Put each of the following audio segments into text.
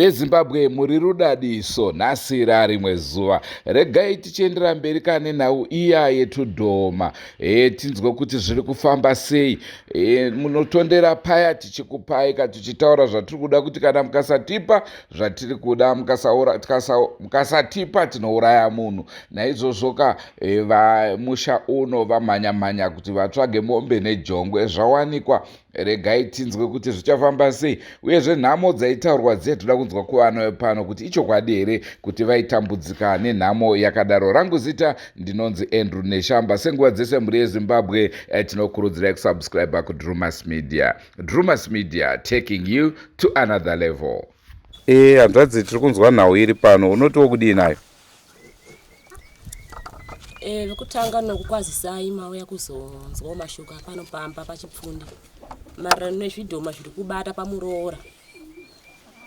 mhuri yezimbabwe muri rudadiso nhasi rarimwe zuva regai tichiendera mberi kane nhau iya yetudhoma e, tinzwe kuti zviri kufamba sei e, munotondera paya tichikupai ka tichitaura zvatiri kuda kuti kana mukasatipa zvatiri kuda mukasatipa tinouraya munhu naizvozvoka e, vamusha uno vamhanya mhanya kuti vatsvage mombe nejongwe zvawanikwa regai tinzwe kuti zvichafamba sei uyezve nhamo dzaitaurwa dziya toda kunzwa kuvana vepano kuti ichokwadi here kuti vaitambudzika nenhamo yakadaro rangu zita ndinonzi andrew neshamba senguva dzese mhuri yezimbabwe e, tinokurudzirai kusubscribe kudrumas media Drewmas Media taking you to another level. Eh, hanzvadzi tiri kunzwa nhau iri pano. Unotiwo kudii nayo? Eh, vekutanga nokukwazisai mauya kuzonzwawo mashoko apano pamba pachipfundi maererano nezvidhoma zviri kubata pamuroora.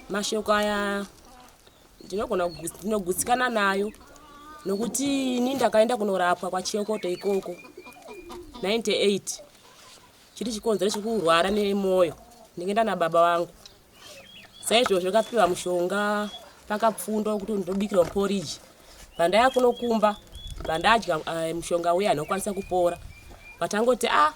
Mashoko aya ndinogona ndinogutsikana nayo nokuti ini ndakaenda kunorapwa kwachiyokoto ikoko 98 Chiri chikonzero chekurwara nemoyo ndingenda nababa vangu saizvozvo kapiwa mushonga pakapfundwa wekuti ndinobikirwa muporiji pandaya kunokumba pandadya eh, mushonga uya anokwanisa kupora patangoti a ah,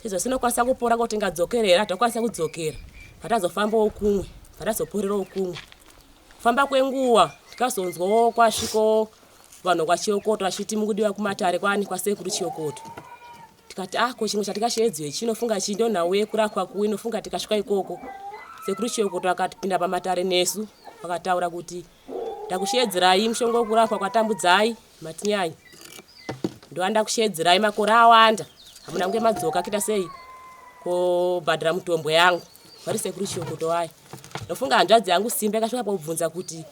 izvo sinokwanisa kupora kuti ngadzokere here hatokwanisa kudzokera patazofambawo kumwe patazoporerawo kumwe famba kwenguva tikazonzwawo kwasviko vanhu kwachiyokoto vachiti mukudiwa kumatare kwani kwasekuru chiyokoto tikati ah ko chimwe chatikasheedzwa ichi inofunga chii ndo nhau yekurapwa kuwe inofunga tikasvika ikoko sekuru chiokoto vakatipinda pamatare nesu vakataura kuti ndakusheedzerai mushonga wekurapwa kwatambudzai matinyanya ndoanda kusheedzerai makore awanda hamuna kunge madzoka kuita sei kobhadhira mutombo yangu vari sekuru chiokoto wayo ndofunga hanzvadzi yangu simba yakasvika pakubvunza kuti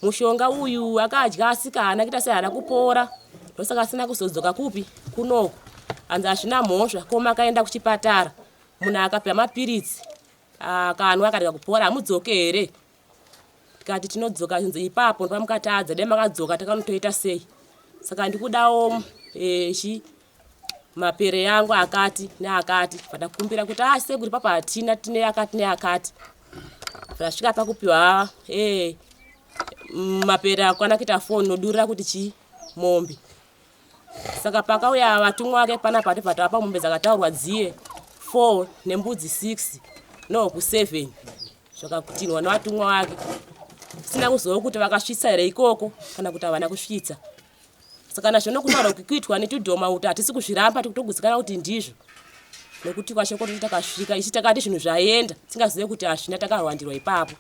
Mushonga uyu akadya asika haana kuita sei haana kupora ndosaka asina kuzodzoka kupi kunoku hanzi hazvina mhosva koma akaenda kuchipatara munhu akapiwa mapiritsi akanwa akarega kupora hamudzoke here tikati tinodzoka chinzi ipapo ndopa mukatadza dai makadzoka takanotoita sei saka ndikudawo echi eh, mapere yangu akati neakati fada kukumbira kuti a ah, sekuru papa hatina tine akati neakati vasvika pakupiwa e mapere akwana kuita foni nodurira kuti chii mombe saka pakauya vatumwa vake pana pati pati apa mombe dzakataurwa dziye four nembudzi six nohuku seven zvakakutinwa nevatumwa vake sina kuziva kuti vakasvitsa here ikoko kana kuti havana kusvitsa saka nazvo nokutaura kuti kuitwa netudhoma uta hatisi kuzviramba tikutogutsikana kuti ndizvo nokuti kwashoko toti takasvika ichi takati zvinhu zvaenda tingazive kuti hazvina takarwandirwa ipapo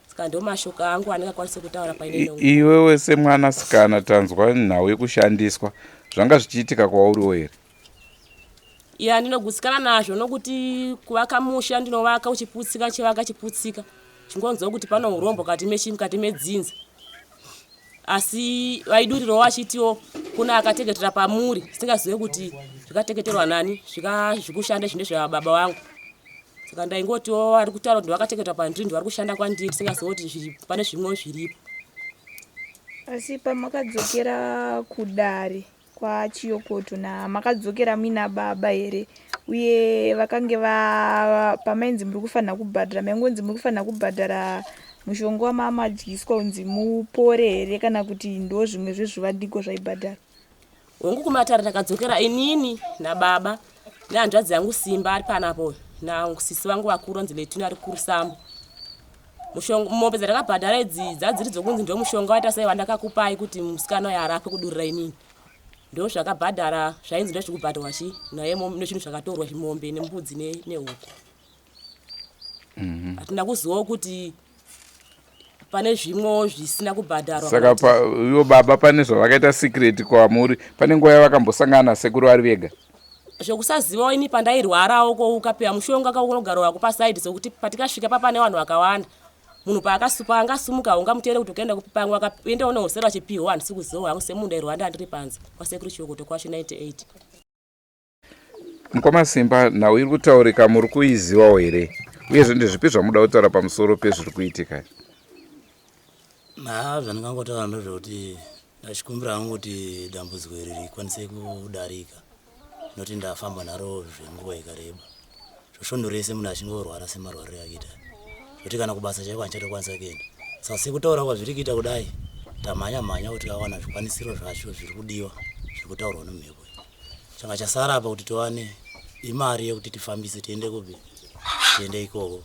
saka ndo mashoko angu andingakwanise kutaura paine iwewe semwana sikana tanzwa nhau yekushandiswa zvanga zvichiitika kwauriwo here ya ndinogutsikana nazvo nokuti kuvaka musha ndinovaka uchiputsika chivaka chiputsika chingonzwa kuti pano urombo kati mechi mukati medzinza asi vaiduriro vachitiwo kuna akateketera pamuri singazive kuti zvikateketerwa nani zvikazvikushanda zvine zvababa vangu saka ndaingotiwo ari kutaura kuti vakateketera pandiri ndivari kushanda kwandiri singazive kuti pane zvimwe zviripo asi pamakadzokera kudare kwachiyokoto na makadzokera muina baba here uye vakange va pamainzi muri kufanira kubhadhara maingonzi muri kufanira kubhadhara mushonga wamamadyiswa unzi mupore here kana kuti ndo zvimwe zvezvivandiko zvaibhadhara hongu kumatare takadzokera inini nababa nehanzvadzi yangu simba ari panapo nasisi vangu vakuru onzi letuni ari kurusambo mombe dzandakabhadhara idzi dzadziri dzokunzi ndo mushonga waita sei wandakakupai kuti musikana uyo arapwe kudurira inini ndo zvakabhadhara zvainzi ndo zviri kubhadharwa chi naye nechinhu zvakatorwa zvimombe nembudzi nehuku mhm. hatina kuzivawo kuti pane zvimwewo zvisina kubhadharwa saka ivo baba pane zvavakaita secret kwamuri pane nguva yavakambosangana nasekuru vari vega zvekusazivawo ini pandairwarawo ko ukapiwa mushonga kaunogara wako pasaidi sekuti patikasvika papane vanhu vakawanda munhu paakasupa angasumuka ungamuteere kuti ukaenda kupi pamwe akaenda une hosero achipiwa handisi kuzivawo hangu semunhu ndairwanda ndiri panze kwasekuru chiokoto kwacho 98 Mukoma Simba, nhau iri kutaurika muri kuizivawo here uyezve ndezvipi zvamuda kutaura pamusoro pezviri kuitika? Haa zvandingangotaura ndozvekuti ndachikumbira hangu kuti dambudziko iri rikwanise kudarika noti ndafamba naro zvenguva ikareba zvosvondo rese munhu achingorwara semarwariro yakuita zvoti kana kubasa chaiko hanichatokwanisa kuenda saka sekutaura kwazviri kuita kudai tamhanya mhanya kuti awana zvikwanisiro zvacho zviri kudiwa zviri kutaurwa nemhepo changa chasara apa kuti tiwane imari yekuti tifambise tiende kupi tiende ikoko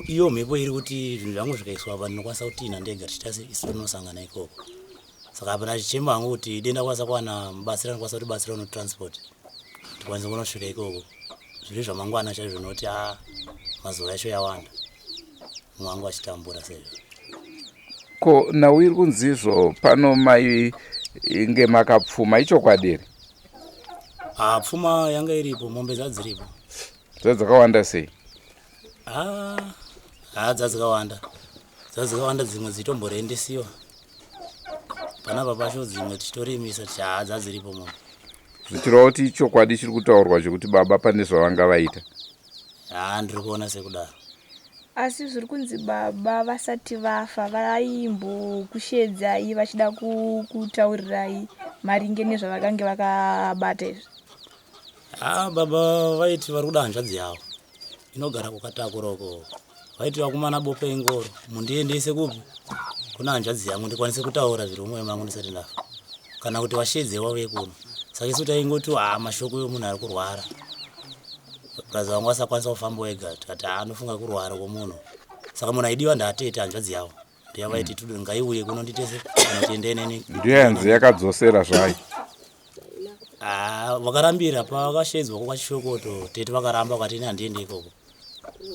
iyo mhepo iri kuti zvinhu zvangu zvikaiswa apa ndinokwanisa kutina ndega tichitase isu tinosangana ikoko saka apa ndachichema hangu kuti denda kwanisa kuwana mubatsira ndikwanisa kuti batsira uno transport tikwanise kunosvika ikoko zviri zvamangwana chaizvo nokuti a ah, mazuva yacho yawanda mwangu achitambura sezvo ko nhau iri kunzizvo pano mai inge makapfuma ichokwadi here ah, pfuma yanga iripo mombe dzadziripo dzadzakawanda sei haa ah, ah, dzadzikawanda dzadzikawanda dzimwe dzitomborendesiwa panapa pacho dzimwe tichitorimisa tichaa dzadziripo mombe zvichirova kuti ichokwadi chiri kutaurwa chekuti baba pane zvavanga vaita haa ndiri kuona sekudaro asi zviri kunzi baba vasati vafa vaimbokusheedzai vachida kutaurirai maringe nezvavakange vakabata izvi haa baba vaiti vari kuda hanzvadzi yavo inogara kukatakura uko Waiti wakumana bope ingoro mundiendese kupi kuna hanzvadzi yangu ndikwanise kutaura zviri mumwoyo mangu ndisati ndafa kana kuti washedze wauye kuno saka isu taingoti haa ah, mashoko yomunhu ari kurwara braza wangu asakwanisa kufamba wega tikati haa ah, anofunga kurwara kwomunhu saka munhu aidiwa ndaatete hanzvadzi yavo yavaiti mm. tudo ngaiuye kuno nditese kana tiende neni ndiyanzi yakadzosera zvayo ah, vakarambira pavakashedzwa kwakwachichokoto tete vakaramba vakati ini handiende ikoko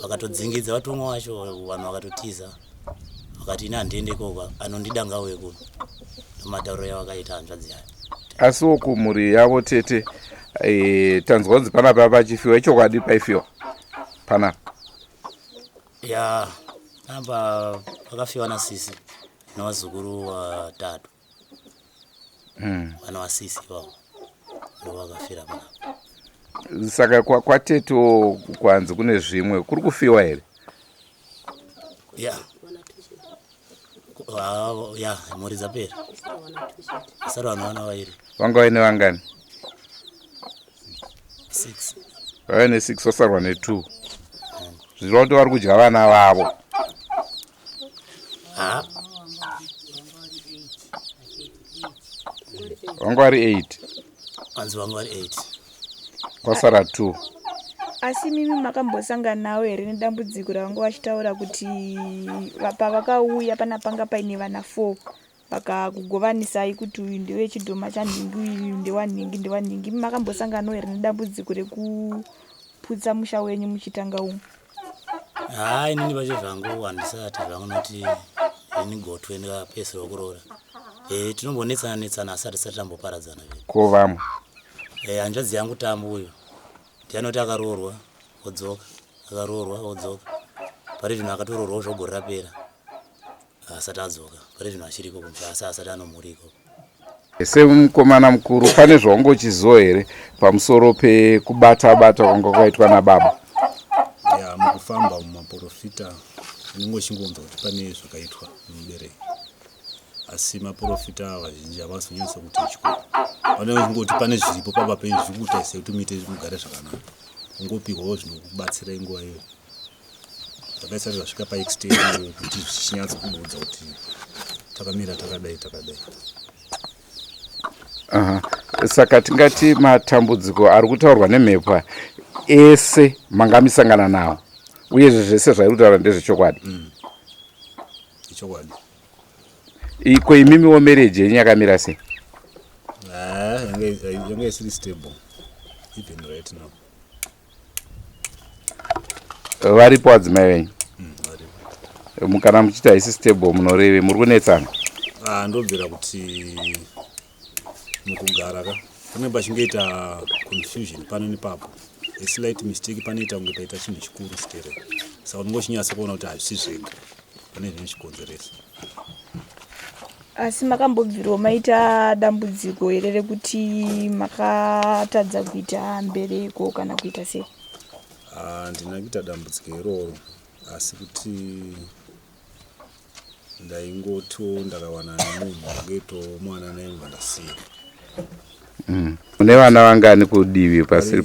vakatodzingidza vatumwa wacho vanhu vakatotiza vakati ini handiende ikoko anondida ngauye kuno nomatauro yavakaita hanzvadzi yayo asiwo kumhuri yavo tete e, tanzwa kunzi panapa pachifiwa ichokwadi paifiwa panapa ya apa vakafiwa nasisi nevazukuru vatatu hmm. vana vasisi vavo ndovakafira panapa saka kwateto kwanzi kune zvimwe kuri kufiwa here ya Wow, ya mhuri dzapera sara vanhu vana vairi vanga vaine vangani six vave nesix vasarwa netwo zvirova kuti vari kudya vana vavo ha vanga vari eight hanzi vanga vari 8 kwasara 2 asi mimi makambosanganawo here nedambudziko ravanga vachitaura kuti pavakauya pana panga paine vana 4 vakakugovanisai kuti uyu ndewe chidhoma chanhingi uyu ndewanhingi ndewanhingi makambosanganawo here nedambudziko rekuputsa musha wenyu muchitanga umu haa inini pacho zvangu handisati zvangu noti ini gotwe ndikapedzisira kuroora e, tinombonetsana netsana asi hatisati tamboparadzana ve ko vamwe e, hanzvadzi yangu tambu uyo ndianoti akaroorwa odzoka akaroorwa odzoka pari zvino akatoroorwawo zvogore rapera Haasati adzoka pari zvino achiri ikoko musha asi haasati ano mhuri ikoko. Semukomana mukuru pane zvaungochiziva here pamusoro pekubata bata kwanga kwaitwa nababa? Ya mukufamba mumaporofita ndinenge uchingonzwa kuti pane zvakaitwa nemubereki asi maporofita vazhinji havasi kunyanyisa kuti chiko vanenge vachingoti pane zviripo pamba penyu zviri kuita sekuti muite mugare zvakanaka ungopihwawo zvinokubatsirai nguva iyoyo. zvakaisati zvasvika paextend kuti zvichinyatso kuudza kuti takamira takadai takadai aha saka tingati matambudziko ari kutaurwa nemhepo ese manga misangana nawo uyezve zvese zvairi kutaura ndezvechokwadi mm. ichokwadi iko imimiwo mereji yenyu yakamira sei ah, yanga isiri stable even right now varipo adzimai venyu mm, kana muchiti haisi stable munorevi muri kunetsana ah, ndobvira kuti mukugara ka pane pachingoita confusion pano nepapo aslight mistake panoita kunge paita chinhu chikuru stere saka unongochinyasa kuona kuti hazvisi zvega pane zvinochikonzeresa asi makambobvirwa maita dambudziko here rekuti makatadza kuita mbereko kana kuita sei handina kuita dambudziko iroro asi kuti ndaingoto ndakawana nemunhu aketo mwana naimva ndasiya mm. une vana vangani kudivi pasiri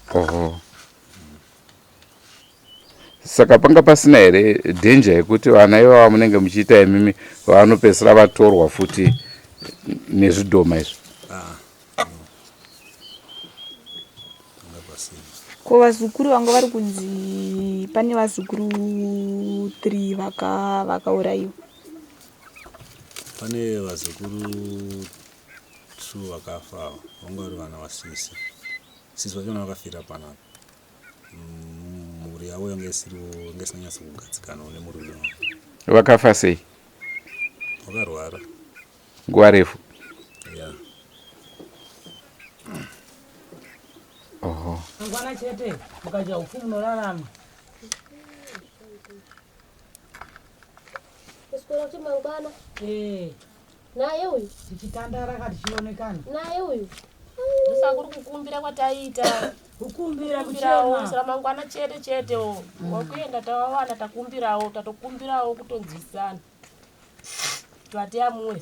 paoho Saka panga pasina here danger yekuti vana ivava munenge muchiita imimi vanopedzisira vatorwa futi nezvidhoma izvi? ko vazukuru vanga vari kunzi pane vazukuru three vakaurayiwa vaka pane vazukuru two vakafa vanga vari vana vasisi sisi vachona vakafira panapa mm, mhuri yavo yanga isiriwo yanga isina nyatso kugadzikanawo nemurume wavo vakafa sei vakarwara nguva refu ya oho mangwana chete mukadya upfu munorarama Kuswera kuti mangwana. Eh. naye uyu tichitandara ka tichionekana naye uyu ndosakuri kukumbira kwataiita kukumbira kuchemaramangwana chete chete o mm. wakuenda tavawana takumbirawo tatokumbirawo kutonzwisisana twati amwe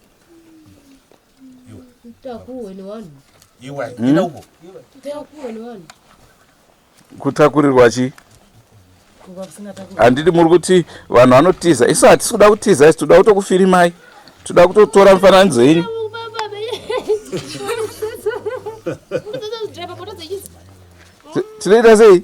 kutakurirwa chii handidi muri kuti vanhu vanotiza isu hatisi kuda kutiza isi toda kutokufirimai toda kutotora mifananidzo yenyu tinoita sei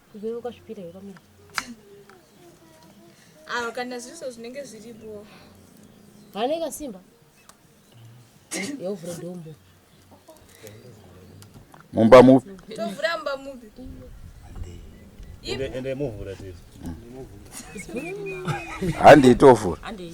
Iwe ukazvipira iwe kamira. Awa kana zviso zvinenge zviripo. Hane kasimba. Yovura dombo. Mumba mupi? Tovura mumba mupi? Ende ende muvura tese. Hande itovura. Hande.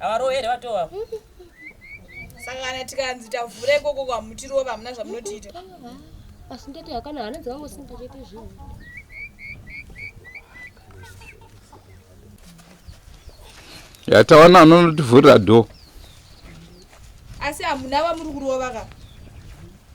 Havarowe here vato ava? Saka kana tikanzi tavhura ikoko kwamutirova hamuna zvamunotiita. Asi ndati hakana hana dzakangosimba chete zvinhu. Yatawana anotivhurira door. Asi hamuna vamuri kurova ka?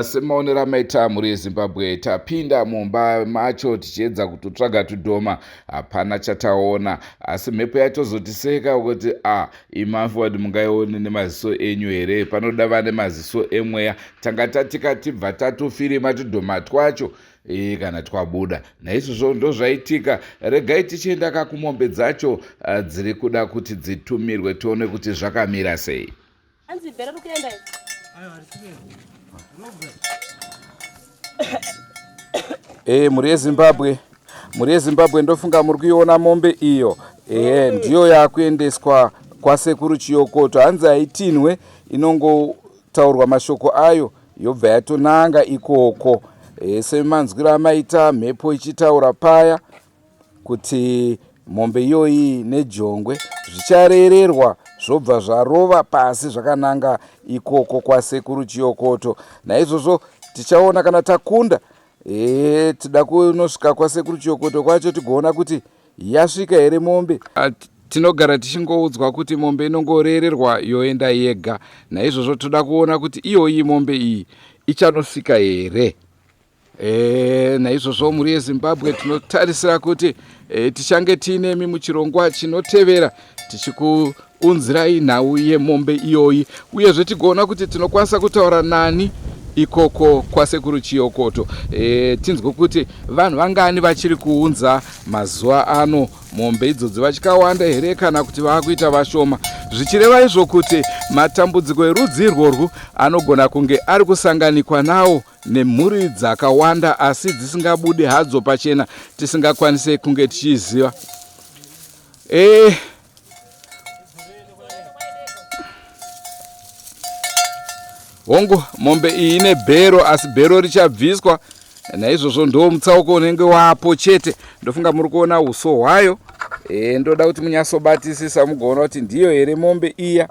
semaonero amaita mhuri yezimbabwe tapinda mumba macho tichiedza kutotsvaga tudhoma hapana chataona asi mhepo yatozotiseka kuti a ah, imafod mungaione nemaziso enyu here panoda vane maziso emweya tanga tatikatibva tatofirima tudhoma twacho Iyi kana twabuda naizvozvo ndozvaitika regai tichienda kakumombe dzacho ah, dziri kuda kuti dzitumirwe tione kuti zvakamira sei hey, eh, mhuri yezimbabwe mhuri yezimbabwe ndofunga muri kuiona mombe iyo ehe ndiyo yakuendeswa kwasekuru chiyokoto hanzi haitinhwe inongotaurwa mashoko ayo yobva yatonanga ikoko e, semanzwiro amaita mhepo ichitaura paya kuti mombe iyoyi nejongwe zvichareererwa zvobva zvarova pasi zvakananga ikoko kwasekuru chiyokoto naizvozvo tichaona kana takunda e, tida kunosvika kwasekuru chiyokoto kwacho tigoona kuti Yasvika here mombe? At tinogara tichingoudzwa kuti mombe inongoreererwa yoenda yega naizvozvo toda kuona kuti iyoyi mombe iyi ichanosvika here e, naizvozvo mhuri yezimbabwe tinotarisira kuti e, tichange tiinemi muchirongwa chinotevera tichiku Unzirai nhau yemombe iyoyi uyezve tigoona kuti tinokwanisa kutaura nani ikoko kwasekuru chiyokoto e, tinzwe kuti vanhu vangani vachiri kuunza mazuva ano mombe idzodzi vachikawanda here kana kuti vaakuita vashoma zvichireva izvo kuti matambudziko erudzi irworwu anogona kunge ari kusanganikwa nawo nemhuri dzakawanda asi dzisingabude hadzo pachena tisingakwanise kunge tichiziva e, hongu mombe iyi ine bhero asi bhero richabviswa naizvozvo ndo mutsauko unenge wapo chete ndofunga muri kuona uso hwayo e, ndoda kuti munyatsobatisisa mugoona kuti ndiyo here mombe iya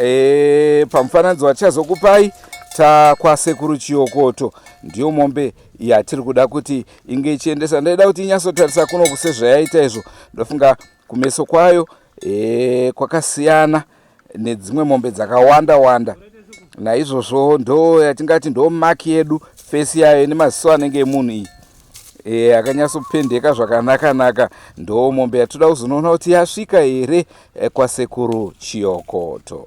e, pamufananidzo watichazokupai takwasekuru chiyokoto ndiyo mombe yatiri kuda kuti inge ichiendesa ndaida kuti inyatsotarisa kunoku sezvayaita izvo ndofunga Kumeso kwayo e, kwakasiyana nedzimwe mombe dzakawanda wanda, naizvozvo ndo yatingati ndo maki yedu fesi yayo ine maziso anenge emunhu iyi e, akanyatsopendeka zvakanakanaka. Ndo mombe yatoda kuzonoona kuti yasvika here e, kwasekuru Chiyokoto.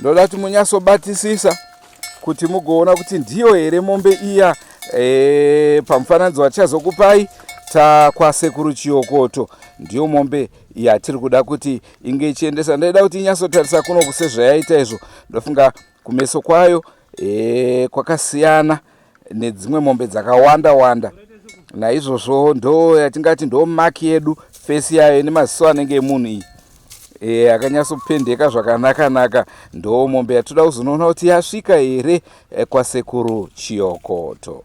ndoda kuti munyatsobatisisa kuti mugoona kuti ndiyo here mombe iya e, pamufananidzo watichazokupai takwasekuru chiyokoto ndiyo mombe yatiri kuda kuti inge ichiendesa ndaida kuti inyatsotarisa kunoku sezvayaita izvo ndofunga kumeso kwayo e, kwakasiyana nedzimwe mombe dzakawanda wanda naizvozvo ndo yatingati ndo maki yedu fesi yayo ine maziso anenge emunhu iyi e, akanyatsopendeka zvakanakanaka ndo mombe yatoda kuzonoona kuti yasvika here eh, kwasekuru chiyokoto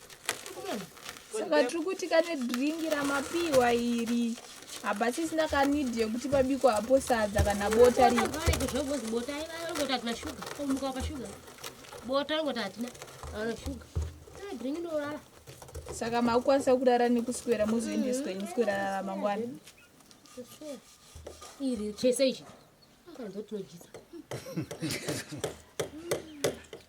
saka tiri kuti kane dringi ramapiwa iri hapa sisi ndakanidi yekuti pabiko hapo sadza kana bota ribota saka makukwanisa kurara nekuswera mozoendeswa ini swerarara mangwana iri chese ichi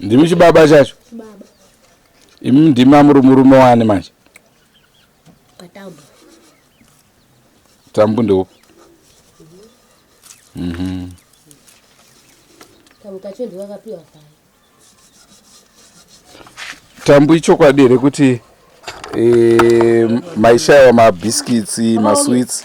ndimi chibaba chacho imi ndimi amuri murume wani manje tambu ndeupi mhm. tambu ichokwadi here kuti e, maishaiwa mabhiskitsi maswits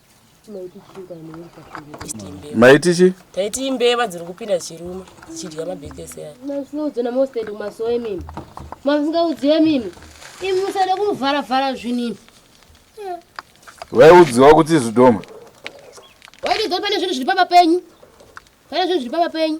maiti chi taiti imbeva dziri kupinda chirume dzichidya mabhekesi aya masingaudze namosted kumasowe mimi mamusingaudziwe mimi imi musada kumuvharavhara zvinini vaiudziwa kuti zvidoma waitidzoa pane zvinhu zviri pamba penyu pane zvinhu zviri pamba penyu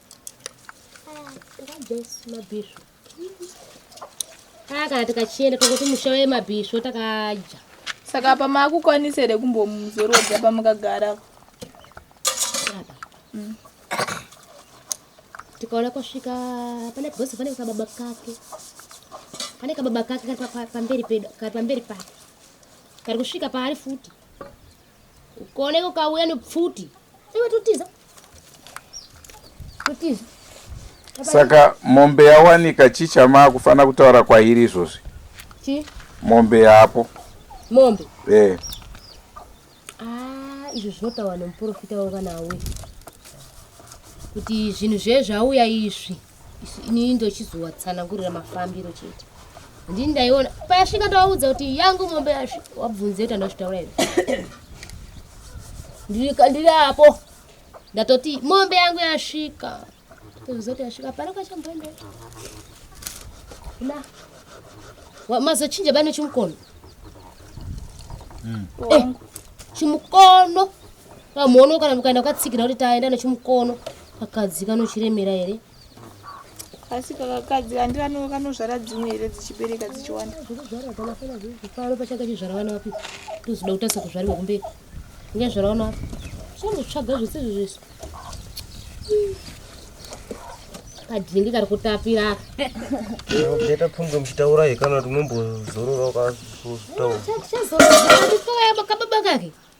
akati kachienda tokuti musha wemabhisvo takadya saka apa makukwanisa here kumbomuzorodza pamukagara mm. tikaona kwasvika pane bhosi pane kababa kake pane kababa kake kari pamberi pedu kari pamberi pake kari kusvika paari futi ukaoneka ukauya nepfuti iwe totiza saka mombe yawanika chii chamaa kufanira kutaura kwairi izvozvi chii mombe yapo mombe e ah, izvo zvinotaura nemuprofita wevana awe kuti zvinhu zvezvauya izvi inini ndochizowatsanangurira mafambiro chete ndini ndaiona payasvika ndawaudza kuti yangu mombe wabvunze kuti andazvitaura here ndiri apo ndatoti mombe yangu yasvika tozoti yasvika pano kachamboenda na mazochinja bani chimukono hmm. eh, chimukono pamuono kana mukaenda kwatsikira kuti taenda nechimukono Kakadzi kanochiremera here? Asi kakakadzi handi vano kanozvara dzimwe here dzichibereka dzichiwanda? Kuzvara kana fana zvinhu pano pachanga chizvara vana vapi? Tozoda kutasa kuzvarirwa kumberi. Inga zvara vana vapi? Chambozvaga zvese izvo zvese. Kadhingi kari kutapira aka. Ndeta pfunge muchitaura hekana kuti mumbozorora ukazvitaura. Chazorora kake.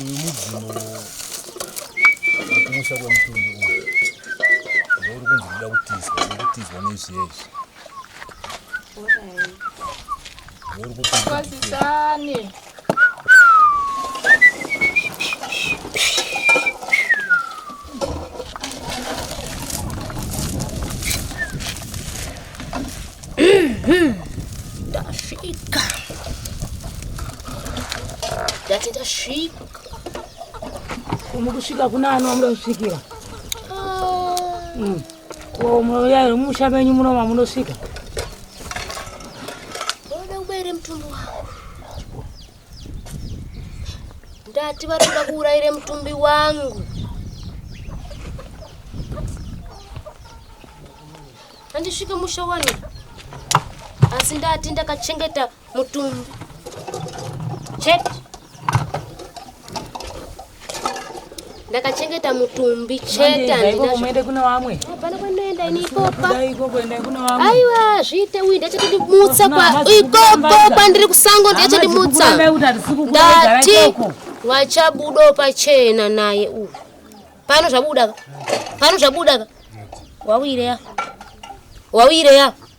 uyu mudzimu wekumusha kwemutumbi uyu ndouri kunzi kuda kutizwa nekutizwa nezviezvi Kwazisane. Ndasvika. Ndati ndasvika. Mukusvika kuna ani wamuda kusvikira? Ah. Mm. Ko munoyai musha menyu muno mamunosvika? Unoda kubaira mutumbi wangu. Ndati vanoda kuurayira mutumbi wangu. Handisvike musha wani. Asi ndati ndakachengeta mutumbi chete ndakachengeta mutumbi chete handinaende kuna vamwe hapana kwandoenda ini ikopa aiwa zviite uyu ndachati ndimutsa ikopo kwandiri kusango ndachati ndimutsa ndati wachabudawo pachena naye uyu pano zvabuda ka pano zvabuda ka wauireya wauireya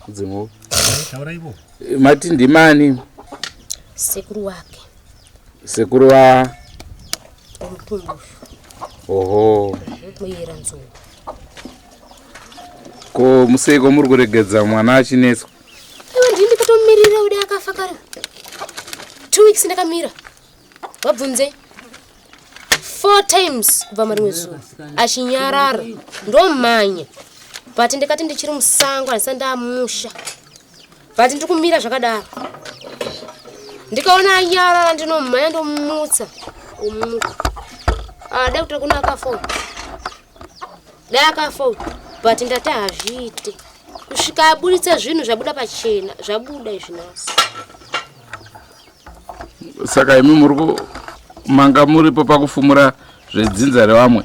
kudzimu tauraivo mati ndimani sekuru wake sekuru wa omutumbu oho muyera nzungu ko museiko muri kuregedza mwana achinetswa iwe ndini ndikatomumirira ude akafa kare two weeks ndakamira vabvunzei four times kubva marimwe zuva achinyarara ndomhanya but ndikati ndichiri musango handisa ndamusha but ndiri kumira zvakadaro ndikaona anyarara ndinomhanya ndomutsa omuka ah, dai kuti kuna akafona dai akafona but ndati hazviite kusvika abuditsa zvinhu zvabuda pachena zvabuda izvinasi saka imi muri manga muripo pakufumura zvedzinza revamwe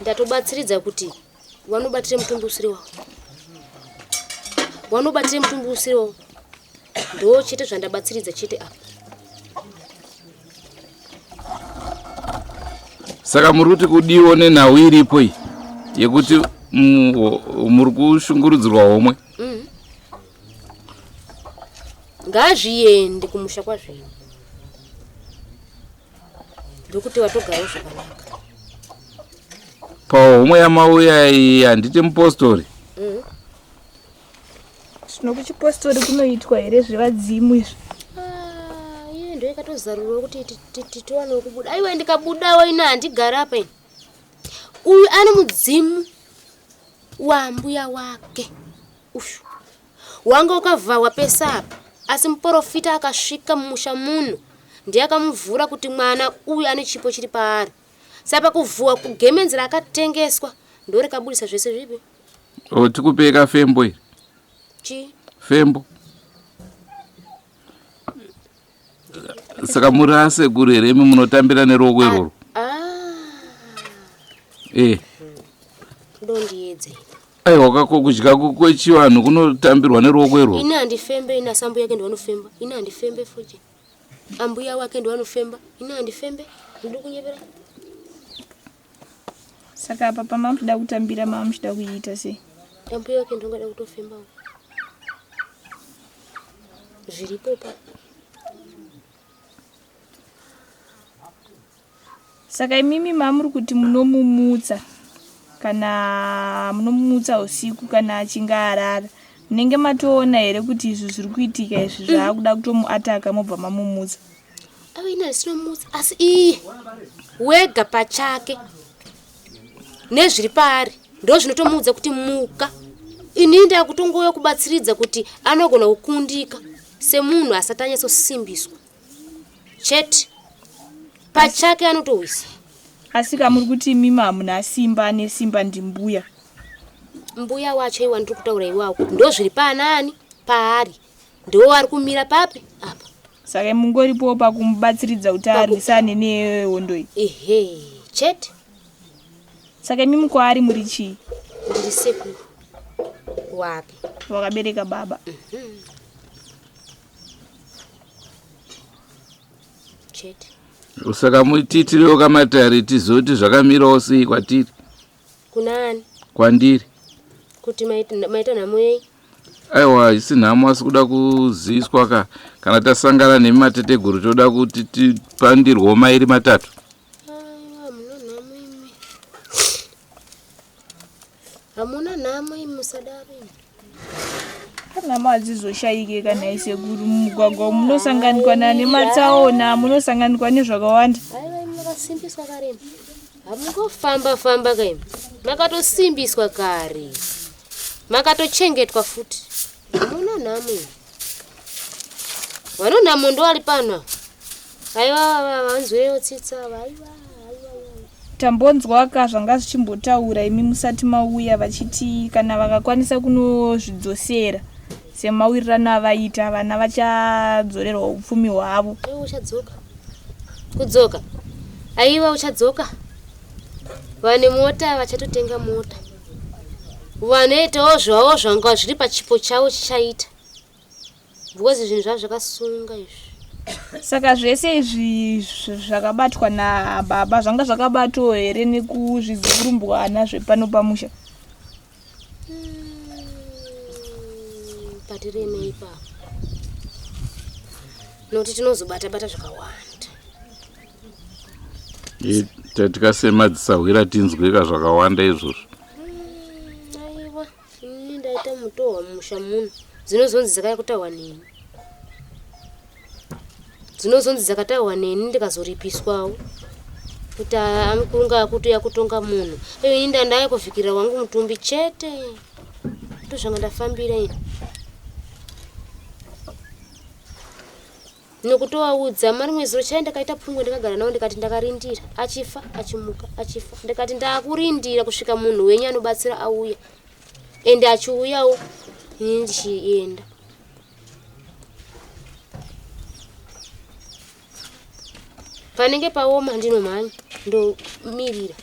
ndatobatsiridza kuti vanobatire mutumbi usiri wavo vanobatire mutumbi usiri wavo ndo chete zvandabatsiridza chete apa saka muri kuti kudiwo nenhau iripo iyi yekuti muri kushungurudzirwa homwe mm. ngazviende kumusha kwazvino ndokuti watogarawo zvakanaka pawo umwe yamauya iyi handiti mupostori mm. zvino kuchipostori kunoitwa here zvevadzimu izvi ah, iye ndo ikatozarurwa kuti titiwanewo kubuda aiwa ndikabudawo ina handigara apa ini uyu ane mudzimu wambuya wake Uyu wanga ukavhahwa pese apa asi muporofita akasvika mumusha muno ndiye akamuvhura kuti mwana uyu ane chipo chiri paari sapa kuvhuwa kugemenzi rakatengeswa ndorikabudisa zvese zvipi o tikupeka fembo iri chii fembo saka muri asekuru here imi munotambira neruoko ah, iroro ah. eh. ndondiedzei aiwa kako kudya kwechivanhu kunotambirwa neruoko iroro ini handifembe ini asambu yake ndivanofemba ini handifembe futi ambuya wake ndiwanofemba ini handifembe ndiri kunyevera Saka apa pamamuchida kutambira mamuchida kuiita sei? Ambuya wake ndongada kutofemba uko. Zviripo pa. Saka imimi mamuri kuti munomumutsa kana munomumutsa usiku kana achinge arara munenge matoona here kuti izvi zviri kuitika izvi zvaakuda kutomuataka mobva mamumutsa? ave ina risino mutsa asi iye wega pachake nezviri paari ndo zvinotomuudza kuti muka ini ndava kutongouya kubatsiridza kuti anogona kukundika semunhu asati anyatsosimbiswa chete pachake anotowisa asi ka muri kuti imimi hamuna simba ane simba ndimbuya mbuya wacho iwa ndiri kutaura iwawo ndo zviri paanani paari ndiwo wari kumira papi apa saka mungoripowo pakumubatsiridza kuti arwisane nehondo iyi ehe chete saka imi mukwaari muri chii ndiri sekuru wapi wakabereka baba mhm. chete saka mutitirewo kamatare tizoti zvakamirawo sei kwatiri Kuna ani? Kwandiri. Kuti maita nhamo yei? Aiwa haisi nhamo asi kuda kuziviswa ka kana tasangana nemi mateteguru toda kuti tipandirwo mairi matatu. Hamuna nhamo imi musadaro. nhamo hadzizoshayike kana isekuru mumugwagwa umu munosanganikwa nane matsaona munosanganikwa nezvakawanda makasimbiswa kare hamungofamba famba kai makatosimbiswa kare makatochengetwa futi hamuna nhamo Vanona mondo ari pano. Aiwa vanzwewo tsitsa vaiwa. tambonzwaka zvanga zvichimbotaura imi musati mauya vachiti kana vakakwanisa kunozvidzosera semawirirano avaita vana vachadzorerwa upfumi hwavo uchadzoka kudzoka aiwa uchadzoka vane mota vachatotenga mota vanoitawo zvavo zvanga zviri pachipo chavo chichaita because zvinhu zvavo zvakasunga izvi saka zvese izvi zvakabatwa nababa zvanga zvakabatwawo here nekuzvizurumbwana zvepano pamusha hmm, patiremei papa nokuti tinozobata bata zvakawanda tatikasemadzisahuira tinzweka zvakawanda izvozvo aiwa ini ndaita mutohwa mumusha muno dzinozonzi dzakaya kutaurwa neni dzinozonzi dzakataurwa neni ndikazoripiswawo kuti amukurunga akutuya kutonga munhu ini ndandaya kuvhikirira wangu mutumbi chete ndozvanga ndafambira ini nokutovaudza mari mwedzi rochai ndakaita pfungwe ndakagara navo ndikati ndakarindira achifa achimuka achifa ndikati ndakurindira kusvika munhu wenyu anobatsira auya ende achiuyawo ini ndichienda panenge paoma ndinomhanya ndomirira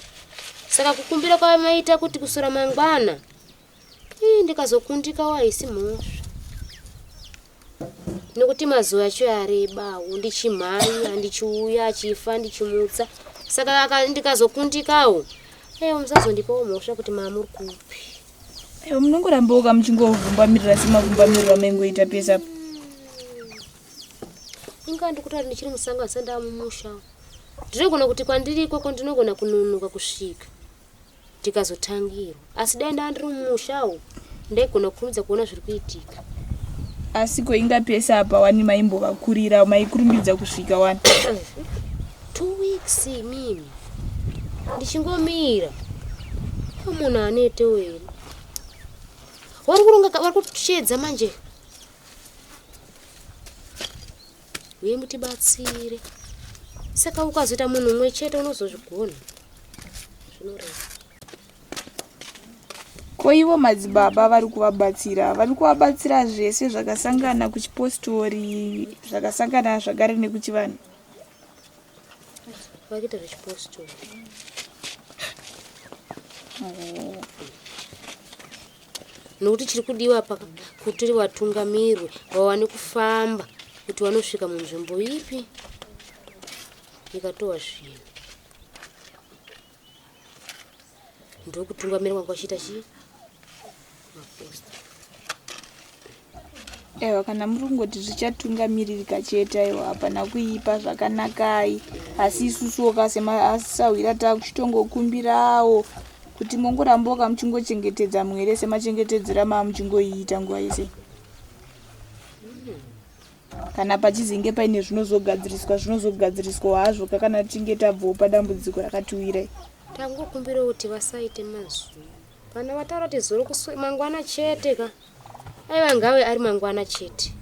saka kukumbira kwamaita kuti kusora mangwana Ii, ndikazokundikawo haisi mhosva nekuti mazuva acho yarebawo ndichimhanya ndichiuya achifa ndichimutsa saka ndikazokundikawo eyo musazondipawo mhosva kuti maamuri kupi eyo munongorambawoka muchingovumbamirira semavumbamiriro amaingoita pese apo inga ndikutoti ndichiri musango asi ndava mumusha ndinogona kuti kwandiri ikoko ndinogona kunonoka kusvika tikazotangirwa asi dai ndaa ndiri mumusha umu ndaigona kukurumidza kuona zviri kuitika asi ko inga pese apa wani maimbovakurira maikurumbidza kusvika wani two weeks mimi ndichingomira munhu anete wena wari kuronga wari kutsvedza manje huye mutibatsire saka ukazoita munhu umwe chete unozozvigona zvinoreva ko ivo madzibaba vari kuvabatsira vari kuvabatsira zvese zvakasangana kuchipostori zvakasangana zvagare nekuchivanhu vakuita zvechipostori oh. nokuti chiri kudiwa apa kuti vatungamirwe vawane kufamba kuti vanosvika munzvimbo ipi ikatowa zvinhu ndokutungamirwa kwachiita chii maposta Ewa kana muri kungoti zvichatungamirika chete aiwa hapana kuipa zvakanakai asi isusuwo kasemasahwira takuchitongokumbirawo kuti mongoramboka muchingochengetedza mwere semachengetedzera maa muchingoiita nguva yese kana pachizinge paine zvinozogadziriswa zvinozogadziriswa hazvo kakana tichinge tabvawo padambudziko rakatiwirai tangokumbirawo kuti vasaite mazwi vana vataura kuti zoro mangwana chete ka aiva ngawe ari mangwana chete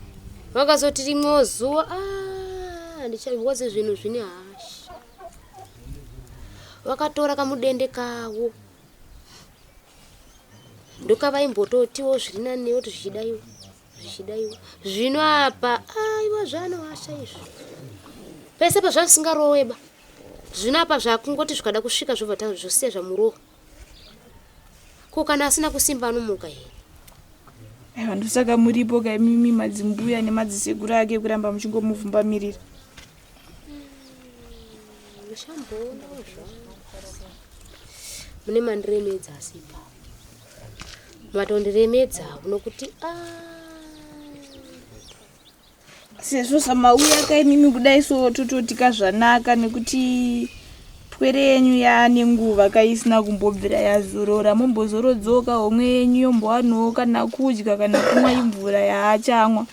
vakazoti rimwewo zuva ah, handichawazi zvinhu zvine hasha vakatora kamudende kavo ndokavaimbototiwo zviri nani yoti zvichidaiwa zvichidaiwa zvino apa aiwa ah, zvaanohasha izvi pese pazvasingaroweba zvino apa zvakungoti zvikada kusvika zvobva zvosiya zvamurowa ko kana asina kusimba anomuka here aiwa ndosaka muripo kaimimi madzimbuya nemadzisekuru ake kuramba muchingomuvhumbamirira mushamboona mune mandiremedza asipa matondiremedza kunokuti a ah. sezvo zvamauya ka imimi kudai so tototika zvanaka nekuti pwere yenyu yaane nguva kaisina kumbobvira yazorora mombozorodzoka homwe yenyu yombowanowo kana kudya kana kumwa imvura yaachamwa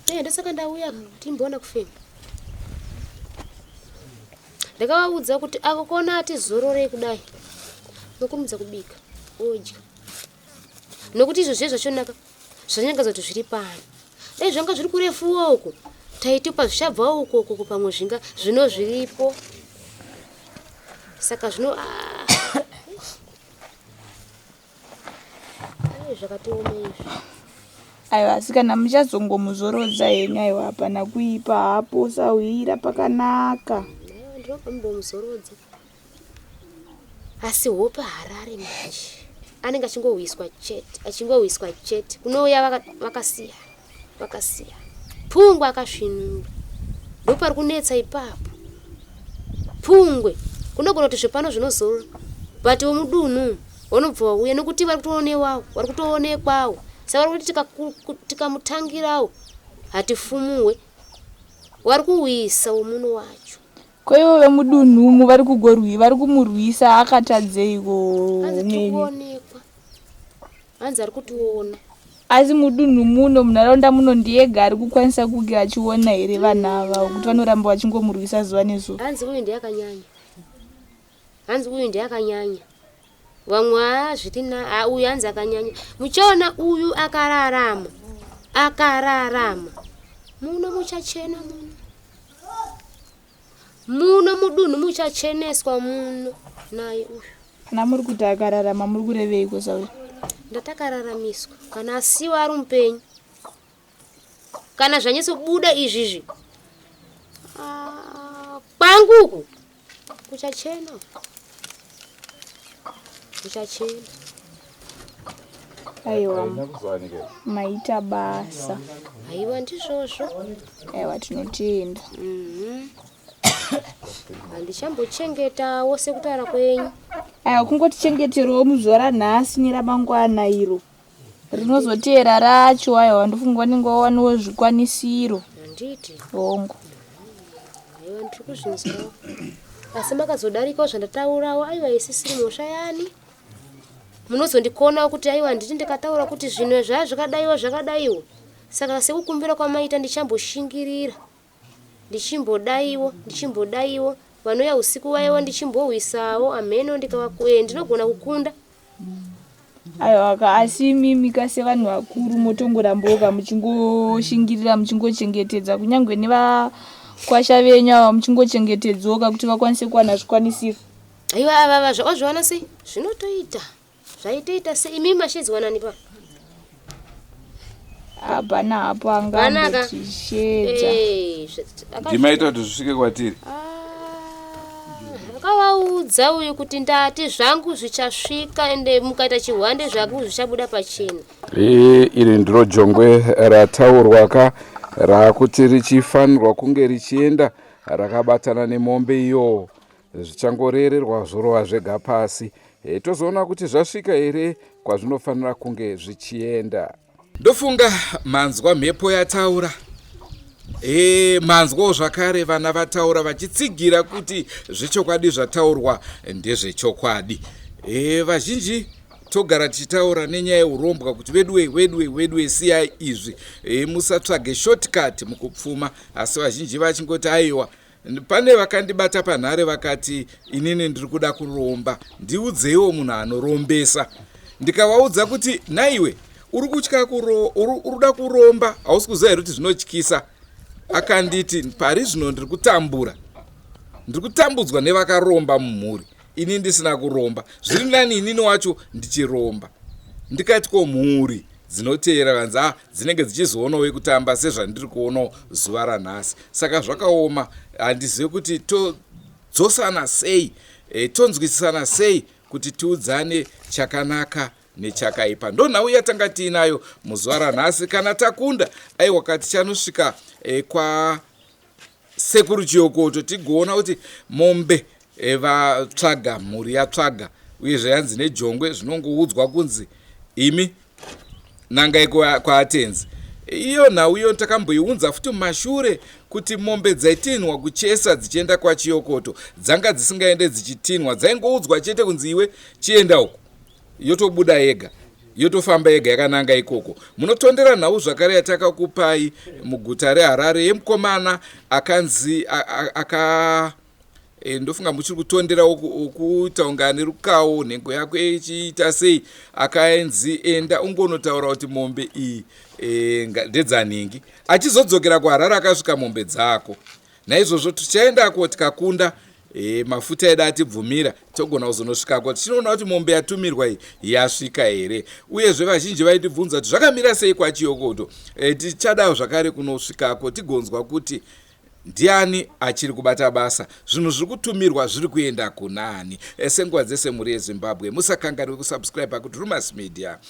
eh, ndosaka ndauya timboona kufema ndakavaudza kuti ako kona atizororei kudai nokurumidza kubika odya nokuti izvo zviye zvachonaka zvanyangadza kuti zviri pano dai zvanga zviri kurefuwo uku taitupa zvichabva uko uko pamwe zvinga zvino zviripo saka zvino ah. zvakatioma izvi aiwa asi kana muchazongomuzorodza henyu aiwa hapana kuipa hapo usahwira pakanaka ndinopa mumbomuzorodza asi hope harare manje anenge achingowiswa chete achingowiswa chete kunouya vakasiya vakasiya pfungwa akasvinura ndopari kunetsa ipapo pfungwe kunogona kuti zvepano zvinozora but wemudunhu wanobva wauya nokuti vari kutoonewawo vari kutoonekwawo sa vari kuti tikamutangirawo hatifumuwe wari kuwisa womuno wacho Ko ivo vemudunhu umu vari kugorwi vari kumurwisa akatadzeiko umweni? Hanzi ari kutiona. Asi mudunhu muno munharaunda muno ndiyega ari kukwanisa kunge achiona here vanhu ava kuti vanoramba vachingomurwisa zuva nezuva? Hanzi uyu ndiye akanyanya. Hanzi uyu ndiye akanyanya. Vamwe haa zviri na haa uyu hanzi akanyanya. Muchaona uyu akararama. Akararama. Muno muchachena muno. Muno mudunhu muchacheneswa muno naye uyu. Kana muri kuti akararama muri kureveiko Sauri? Ndatakararamiswa kana asiwa ari mupenyu. kana zvanyasobuda izvizvi ah, kwangu uku kuchachena kuchachena aiwa maita basa aiwa ndizvozvo aiwa tinotenda mhm. handichambochengetawo sekutaura kwenyu aiwa kungotichengeterowo muzuva ranhasi neramangwana iro rinozoteera racho aiwa ndofunga vanenge vawaniwo zvikwanisiro handiti hongu aiwa ndiri kuzvinzwawo asi makazodarikawo zvandataurawo aiwa isisiri mhosva yani munozondikonawo kuti aiwa nditi ndikataura kuti zvinhu zvaya zvakadaiwo zvakadaiwo saka sekukumbira kwamaita ndichamboshingirira ndichimbodaiwo ndichimbodaiwo vanouya usiku vaiwo ndichimbohwisawo hameno ndikavakuee eh, ndinogona kukunda aiwaka asi imimi ka sevanhu vakuru motongorambooka muchingoshingirira muchingochengetedza kunyange nevakwasha venyu ava muchingochengetedzoka kuti vakwanise kuwana zvikwanisiro aiwa avava zvaozviona sei zvinotoita Zvaitoita se imi mashedzwa nani pa? Hapana hapo angambo chishedza. Hey, Ndimaita kuti zvisvike kwatiri. Akavaudza ah, uyu kuti ndati zvangu zvichasvika ende mukaita chihwande zvangu zvichabuda pachena. Iri ndiro jongwe rataurwa ka rakuti richifanirwa kunge richienda rakabatana nemombe iyo zvichangorererwa zvorova zvega pasi e, tozoona kuti zvasvika here kwazvinofanira kunge zvichienda ndofunga manzwa mhepo yataura e, manzwawo zvakare vana vataura vachitsigira kuti zvechokwadi zvataurwa ndezvechokwadi e, vazhinji togara tichitaura nenyaya yeurombwa kuti veduwe weduwe weduwe siyai izvi e, musatsvage shortcut mukupfuma asi vazhinji vachingoti aiwa Pane vakandibata panhare vakati inini ndiri kuda kuromba, ndiudzeiwo munhu anorombesa. Ndikavaudza kuti naiwe uri kutya kuro, uri kuda kuromba, hausi kuziva here kuti zvinotyisa? Akanditi pari zvino ndiri kutambura, ndiri kutambudzwa nevakaromba mumhuri, ini ndisina kuromba. Zviri nani inini wacho ndichiromba. Ndikati ko mhuri dzinoteera vanzi ah, dzinenge dzichizoonawo kutamba sezvandiri kuonawo zuva ranhasi saka zvakaoma handizive kuti todzosana sei e, tonzwisisana sei kuti tiudzane chakanaka nechakaipa ndo nhau yatanga tiinayo muzuva ranhasi kana takunda aiwa kati chanosvika e, kwa Sekuru Chiyokoto tigoona kuti mombe eh, vatsvaga mhuri yatsvaga uye zvayanzi nejongwe zvinongoudzwa kunzi imi nangai kwaatenzi iyo nhau iyo takamboiunza futi mumashure kuti mombe dzaitinhwa kuchesa dzichienda kwachiyokoto dzanga dzisingaende dzichitinhwa dzaingoudzwa chete kunzi iwe chienda uku yotobuda yega yotofamba yega yakananga ikoko munotondera nhau zvakare yatakakupai muguta reharare yemukomana akanzi aka e, ndofunga muchiri kutondera ukuita unga ane rukawo nhengo yako ichiita sei akaenzi enda ungonotaura kuti mombe iyi e, ndedzanhingi achizodzokera kuharare akasvika mombe dzako Naizvozvo tichaendako tikakunda e, mafuta edu atibvumira togona kuzonosvikako tichinoona kuti mombe yatumirwa iyi yasvika here uyezve vazhinji vaitibvunza kuti zvakamira sei kwachiyokoto e, tichadawo zvakare kunosvikako tigonzwa kuti ndiani achiri kubata basa zvinhu zviri kutumirwa zviri kuenda kunani e, senguva dzese mhuri yezimbabwe musakanganwe kusubscribe pakuti rumas media